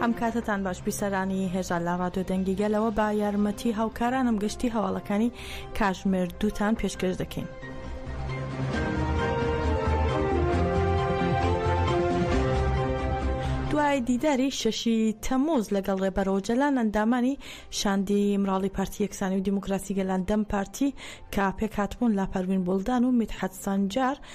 هەم کاتتان باش بیسەرانی هێژا لە ڕادیۆ دەنگی گەلەوە بە یارمەتی هاوکارانم گشتی هەواڵەکانی کاژمێر دووتان پێشکەش دەکەین. دوای دیداری شەشی تەموز لەگەڵ ڕێبەرەوە جەلان ئەندامانی شاندی مراڵی پارتی یەکسانی و دیموکراسی گەلان دەم پارتی کە پێکهاتبوون لا پەروین بولدان و میتحەت سەنجار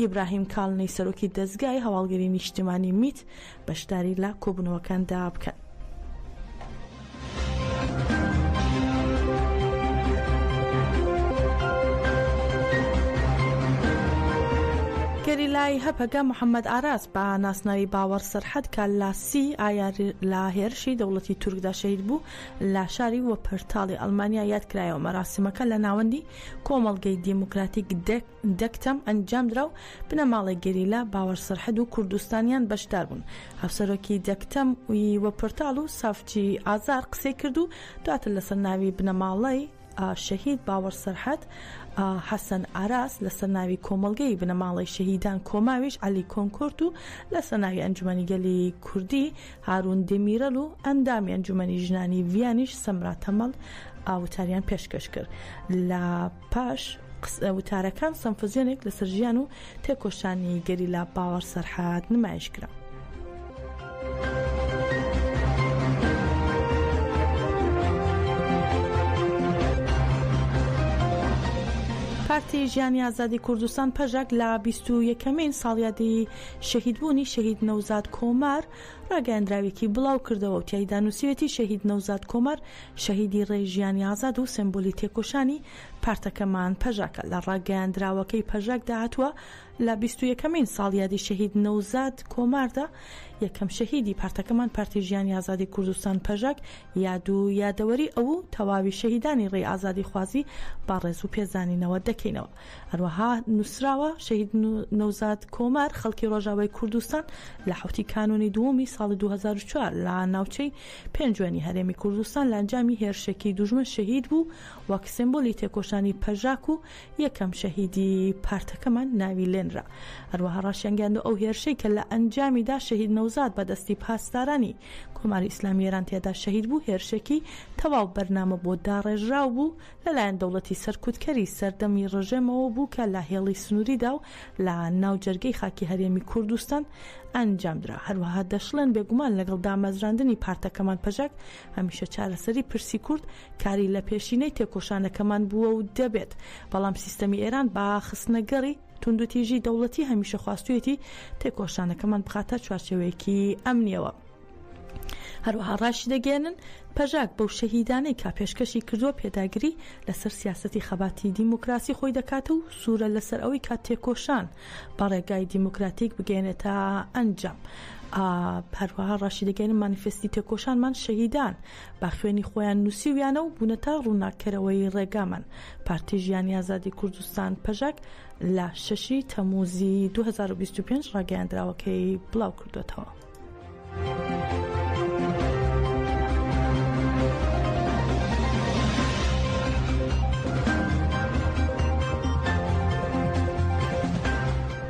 ئیبراهیم کالنی سەرۆکی دەزگای هەواڵگری نیشتیمانی میت بەشداری لە کۆبوونەوەکاندا بکەن. گەریلای هەپەگە محەممەد ئاراس بە ناسناوی باوەڕ سەرحەد کە لە سی ئایار لە هێرشی دەوڵەتی تورکدا شەید بوو لە شاری وە پرتاڵی ئەلمانیا یادکرایەوە مەراسیمەکە لە ناوەندی کۆمەڵگەی دیموکراتیک دەک دەک تەم ئەنجامدرا و بنەماڵەی گەریلا باوەر سەرحەد و کوردستانیان بەشدار بوون. هاوسەرۆکی دەک تەم ی و پرتاڵ و سافچی ئازار قسەی کرد و دواتر لەسەر ناوی بنەماڵەی شەهید باوەڕ سەرحەد حەسەن ئاراس لەسەر ناوی کۆمەڵگەی بنەماڵەی شەهیدان کۆماویش عەلی کۆنکۆرت و لەسەر ناوی ئەنجومەنی گەلی کوردی هارون دێمیرەل و ئەندامی ئەنجومەنی ژنانی ڤیانیش سەمرا تەمەڵ وتاریان پێشکەش کرد لە پاش قسە وتارەکان سەمفزیۆنێک لەسەر ژیان و تێکۆشانی گەریلا باوەڕ سەرحاد نمایش کرا. پارتی ژیانی ئازادی کوردستان پەژەک لە بیست و یەکەمین ساڵیادی شەهیدبوونی شەهید نەوزاد کۆمار ڕاگەیاندراوێکی بڵاو کردەوە و تایدا نووسەتی شەهید نەوزاد کۆمار شەهیدی ڕێی ژیانی ئازاد و سێمبولی تێکۆشانی پارتەکەمان پەژاکە. لە ڕاگەیاندراوەکەی پەژاکدا هاتووە، لە بیست و یەکەمین ساڵیادی شەهید نەوزاد کۆماردا، یەکەم شەهیدی پارتەکەمان پارتی ژیانی ئازادی کوردستان پەژاک یاد و یادەوەری ئەو و تەواوی شەهیدانی ڕێی ئازادیخوازی بە ڕێز و پێزانینەوە دەکەینەوە. هەروەها نووسراوە، شەهید نەوزاد کۆمار خەڵکی ڕۆژاوای کوردستان لە حەوتی کانوونی دووەمی ساڵی دوو هەزار و چوار لە ناوچەی پێنجوێنی هەرێمی کوردستان لە ئەنجامی هێرشێکی دوژمن شەهید بوو، وەک سێمبۆلی تێکۆشانی پەژاک و یەکەم شەهیدی پارتەکەمان ناوی لێنرا. هەروەها ڕاشیانگەیاند ئەو هێرشەی کە لە ئەنجامیدا شەهید نەوزاد بە دەستی پاسدارانی کۆماری ئیسلامی ئێران تێدا شەهید بوو، هێرشێکی تەواو بەرنامە بۆ داڕێژراو بوو، لەلایەن دەوڵەتی سەرکوتکەری سەردەمی ڕژێمەوە بوو کە لە هێڵی سنووریدا و لە ناو جەرگەی خاکی هەرێمی کوردستان ئەنجامدرا. هەروەها دەشڵێن، بێگومان لەگەڵ دامەزراندنی پارتەکەمان پەژاک، هەمیشە چارەسەری پرسی کورد کاری لە پێشینەی تێکۆشانەکەمان بووە و دەبێت، بەڵام سیستەمی ئێران بە خستنەگەڕی توندوتیژی دەوڵەتی هەمیشە خواستوویەتی تێکۆشانەکەمان بخاتە چوارچێوەیەکی ئەمنییەوە. هەروەها ڕاشیدەگەیەنن، پەژاک بەو شەهیدانەی کا پێشکەشی کردووە پێداگری لەسەر سیاسەتی خەباتی دیموکراسی خۆی دەکات و سوورە لەسەر ئەوەی کا تێکۆشان بە ڕێگای دیموکراتیک بگەیەنێتە ئەنجام. هەروەها ڕاشیدەگەیەنن، مانیفێستی تێکۆشانمان شەهیدان بە خوێنی خۆیان نووسیویانە و بوونەتە ڕووناککەرەوەی ڕێگامان. پارتی ژیانی ئازادی کوردستان پەژاک لە شەشی تەمووزی دوو هەزار و بیست و پێنج ڕاگەیاندراوەکەی بڵاوکردووەتەوە.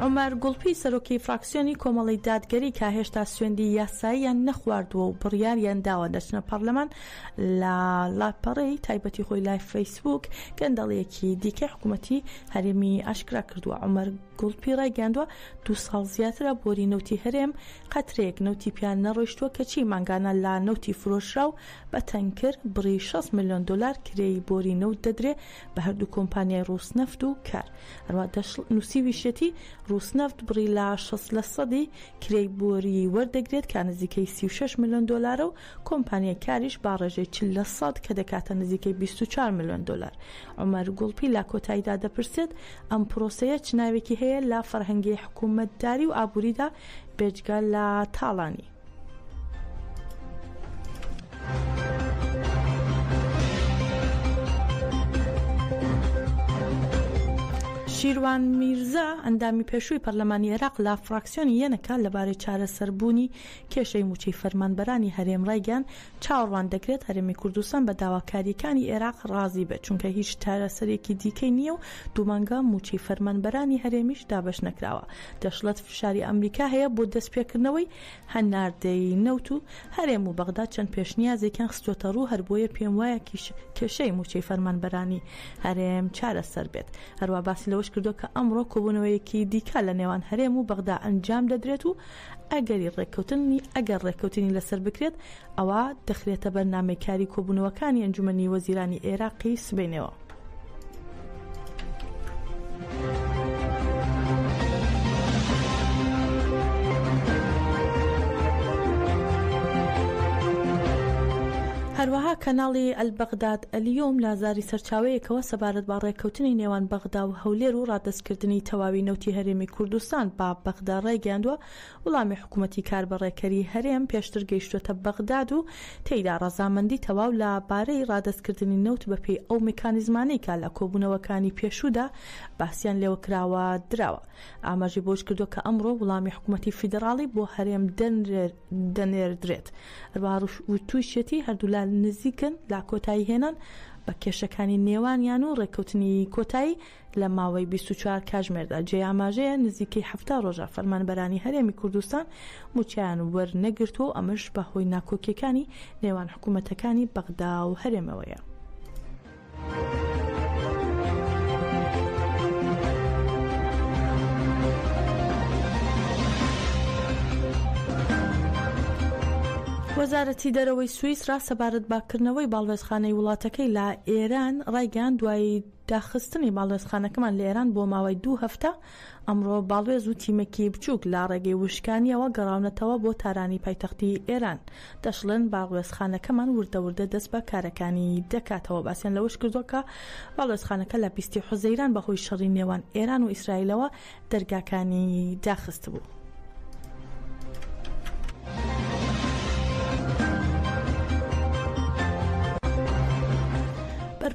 عومەر گوڵپی سەرۆکی فراکسیۆنی کۆمەڵی دادگەری کە هێشتا سوێندی یاساییان نەخواردووە و بڕیاریان داوە دەچنە پەرلەمان لە لاپەڕەی تایبەتی خۆی لای فەیسبوک گەندەڵیەکی دیکەی حکوومەتی هەرێمی ئاشکرا کردووە عمر گوڵپی ڕایگەیاندووە، دوو ساڵ زیاترە بۆری نەوتی هەرێم قەترەیەک نەوتی پیا نەڕۆیشتووە، کەچی مانگانە لا نەوتی فرۆشراو بە تەنکر بڕی شەست ملیۆن دۆلار کرێی بۆری نەوت دەدرێ بە هەردوو کۆمپانیای ڕووسنەفت و کار. هەروەها دەشڵ، نووسیویشیەتی، ڕووسنەفت بڕی لا شەست لە سەدی کرێی بۆریی وەردەگرێت کە نزیکەی سی و شەش ملیۆن دۆلارە و کۆمپانیای کاریش با ڕێژەی چل لە سەد کە دەکاتە نزیکەی بیست و چوار ملیۆن دۆلار. عومەر گوڵپی لە کۆتاییدا دەپرسێت، ئەم پرۆسەیە چ ناوێکی هەیە لە فەرهەنگی حکوومەتداری و ئابووریدا بێجگە لە تاڵانی؟ شیروان میرزا، ئەندامی پێشووی پەرلەمانی عێراق لە فراکسیۆنی یەنەکە لەبارەی چارەسەربوونی کێشەی مووچەی فەرمانبەرانی هەرێم ڕایگەیاند، چاوەڕوان دەکرێت هەرێمی کوردستان بە داواکارییەکانی ئێراق ڕازی بێت، چونکە هیچ چارەسەرێکی دیکەی نییە و دوو مانگە مووچەی فەرمانبەرانی هەرێمیش دابەش نەکراوە، دەشڵێت فشاری ئەمریکا هەیە بۆ دەستپێکردنەوەی هەناردەی نەوت و هەرێم و بەغدا چەند پێشنیازێکیان خستووەتەڕوو، هەربۆیە پێموایە کێشەی مووچەی فەرمانبەرانی هەرێم چارەسەر بێت. هەروەها باسی لەوەش کردووە کە ئەمڕۆ کۆبوونەوەیەکی دیکە لەنێوان هەرێم و بەغدا ئەنجام دەدرێت و ئەگەری ڕێککەوتنی ئەگەر ڕێککەوتنی لەسەر بکرێت ئەوا دەخرێتە بەرنامەی کاری کۆبوونەوەکانی ئەنجومەنی وەزیرانی ئێراقی سبەینێوە. هەروەها کەناڵی ئەلبەغداد ئەلیۆم لە زاری سەرچاوەیەکەوە سەبارەت بە ڕێککەوتنی نێوان بەغدا و هەولێر و ڕادەستکردنی تەواوی نەوتی هەرێمی کوردستان بە بەغدا ڕایگەیاندووە، وڵامی حکومەتی کاربەڕێکەری هەرێم پێشتر گەیشتووەتە بەغداد و تێیدا ڕەزامەندی تەواو لە بارەی ڕادەستکردنی نەوت بەپێی ئەو میکانیزمانەی کە لە کۆبوونەوەکانی پێشوودا باسیان لێوە کراوە دراوە. ئاماژەی بەوەشکردووە کە ئەمڕۆ وڵامی حکومەتی فیدڕاڵی بۆ هەرێم دەنرێ. دەنێردرێت ئەروا ڕوش و تووشەتی هەردوولا نزیکن لا کۆتایی هێنان بە کێشەکانی نێوانیان و ڕێککەوتنی کۆتایی لە ماوەی 24 کاژمێردا جێ ئاماژەیە نزیکەی هەفتا ڕۆژە فەرمانبەرانی هەرێمی کوردستان موچیان وەرنەگرتووە و ئەمەش بەهۆی ناکۆکیەکانی نێوان حکوومەتەکانی بەغدا و هەرێمەوەیە. وەزارەتی دەرەوەی سویسرا سەبارەت بە کردنەوەی باڵوێزخانەی وڵاتەکەی لە ئێران ڕایگەیان دوایی داخستنی باڵوێزخانەکەمان لە ئێران بۆ ماوەی دوو هەفتە ئەمڕۆ باڵوێز و تیمێکی بچووک لە ڕێگەی وشکانییەوە گەڕاونەتەوە بۆ تارانی پایتەختی ئێران. دەشڵێن باڵوێزخانەکەمان وردە وردە دەست بە کارەکانی دەکاتەوە. باسیان لەوەشکردووە کە باڵوێزخانەکە لە بیست حوزەیران بەهۆی شەڕی نێوان ئێران و ئیسرائیلەوە دەرگاکانی داخستبوو.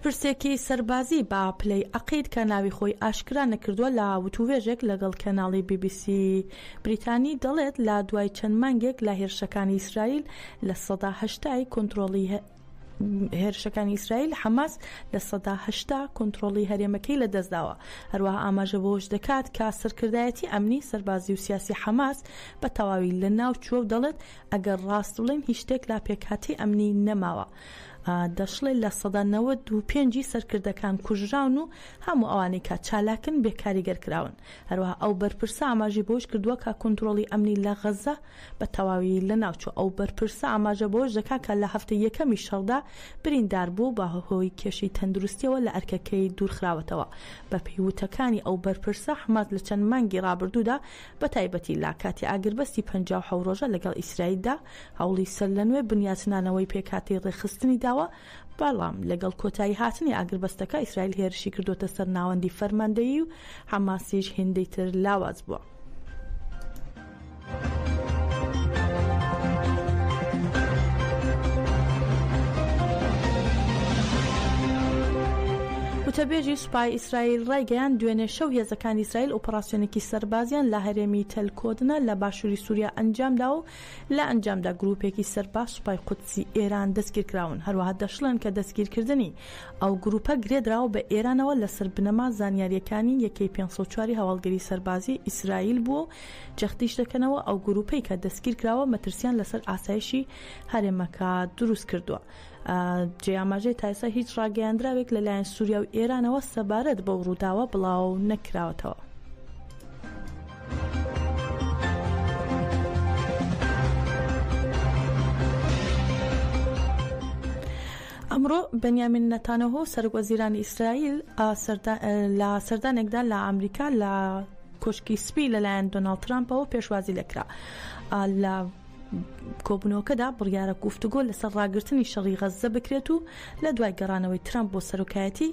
بەرپرسێکی سەربازی بە پلەی عەقید کە ناوی خۆی ئاشکرا نەکردووە لە وتووێژێک لەگەڵ کەناڵی بی بی سی بریتانی دەڵێت لە دوای چەند مانگێک لە هێرشەکانی ئیسرائیل لە سەدا هەشتای کۆنترۆڵی هێرشەکانی ئیسرائیل حەماس لە سەدا هەشتا کۆنتترۆڵی هەرێمەکەی لە دەستداوە هەروەها ئاماژە بۆش دەکات کە سەرکردایەتی ئەمنی سەربازی و سیاسی حەماس بە تەواوی لە ناو چووە و دەڵێت ئەگەر ڕاست بڵێن هیچ شتێک لا پێکاتی ئەمنی نەماوە دەشڵێ لە سەدا نەوە دو پێنجی سەرکردەکان کوژراون و هەموو ئەوانەی کە چالاکن بێکاریگەر کراون هەروەها ئەو بەرپرسە ئاماژی بۆش کردووە کە کۆنتترۆڵی ئەمنی لە غەزە بە تەواوی لەناوچوو، ئەو بەرپرسە ئاماژە بەوەش دەکات کە لە هەفتەی یەکەمی شەڕدا بریندار بوو و بە هۆی کێشەی تەندروستییەوە لە ئەرکەکەی دوورخراوەتەوە. بە پێی وتەکانی ئەو بەرپرسە، حەماس لە چەند مانگی رابردوودا بە تایبەتی لە کاتی ئاگربەستی پەنجا و حەوت رۆژە لەگەڵ ئیسرائیلدا هەوڵی سەرلەنوێ بنیاتنانەوەی پێکهاتەی رێکخستنی داوە، بەڵام لەگەڵ کۆتاییهاتنی ئاگربەستەکە، ئیسرائیل هێرشی کردووەتە سەر ناوەندی فەرماندەیی و حەماسیش هێندەی تر لاواز بووە. وتەبێژی سوپای ئیسرائیل ڕایگەیاند، دوێنێ شەو هێزەکانی ئیسرائیل ئۆپەراسیۆنێکی سەربازیان لە هەرێمی تەل کۆدنە لە باشووری سووریا ئەنجامدا و لە ئەنجامدا گرووپێکی سەربە سوپای قودسی ئێران دەستگیرکراون، هەروەها دەشڵێن کە دەستگیرکردنی ئەو گرووپە گرێدراوە بە ئێرانەوە لەسەر بنەما زانیارییەکانی یەکەی پێنج سەد و چوار ی هەواڵگری سەربازیی ئیسرائیل بووە و جەختیش دەکەنەوە ئەو گرووپەی کە دەستگیرکراوە مەترسییان لەسەر ئاسایشی هەرێمەکە دروستکردووە. جێ ئاماژەی تایسا هیچ ڕاگەیاندراوێک لەلایەن سووریا و ئێرانەوە سەبارەت بەو ڕووداوە بڵاو نەکراوەتەوە. ئەمڕۆ بەنیامین نەتانەهۆ سەرک وەزیرانی ئیسرائیل لە سەردانێکدا لە ئەمریکا لە کۆشکی سپی لەلایەن دۆناڵد ترامپەوە پێشوازی لەکرا لە کۆبوونەوەکەدا بڕیارە گفتوگۆ لەسەر ڕاگرتنی شەڕی غەززە بکرێت و لە دوای گەڕانەوەی ترامپ بۆ سەرۆکایەتی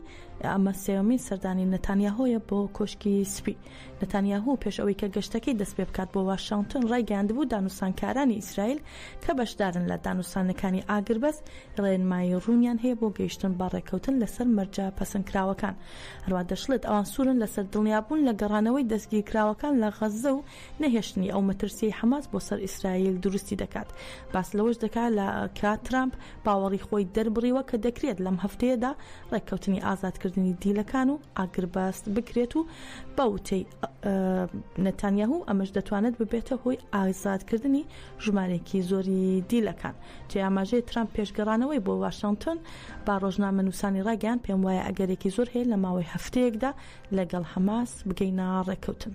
ئەمە سێوەمین سەردانی نەتانیاهۆیە بۆ کۆشکی سپی نەتانیاهو پێش ئەوەی کە گەشتەکەی دەست پێ بکات بۆ واشنگتن ڕایگەیاندبوو دانوسانکارانی ئیسرائیل کە بەشدارن لە دانوسانەکانی ئاگربەست ڕێنمایی ڕوونیان هەیە بۆ گەیشتن بە ڕێککەوتن لەسەر مەرجە پەسەندکراوەکان هەروە دەشڵێت ئەوان سوورن لەسەر دڵنیابوون لە گەڕانەوەی دەستگیرکراوەکان لە غەززە و نەهێشتنی ئەو مەترسیەی حەماس بۆ سەر ئیسرائیل دروستی دەکات. باس لەوەش دەکات لە کە ترامپ باوەڕی خۆی دەربڕیوە کە دەکرێت لەم هەفتەیەدا ڕێککەوتنی ئازادکردنی دیلەکان و ئاگربەست بکرێت و بە وتەی نەتانیاهو ئەمەش دەتوانێت ببێتە هۆی ئازادکردنی ژمارێکی زۆری دیلەکان جێ ئاماژەی ترامپ پێش گەڕانەوەی بۆ واشنتن با ڕۆژنامە نووسانی ڕاگەیان پێم وایە ئەگەرێکی زۆر هەیە لە ماوەی هەفتەیەکدا لەگەڵ حەماس بگەینە ڕێککەوتن.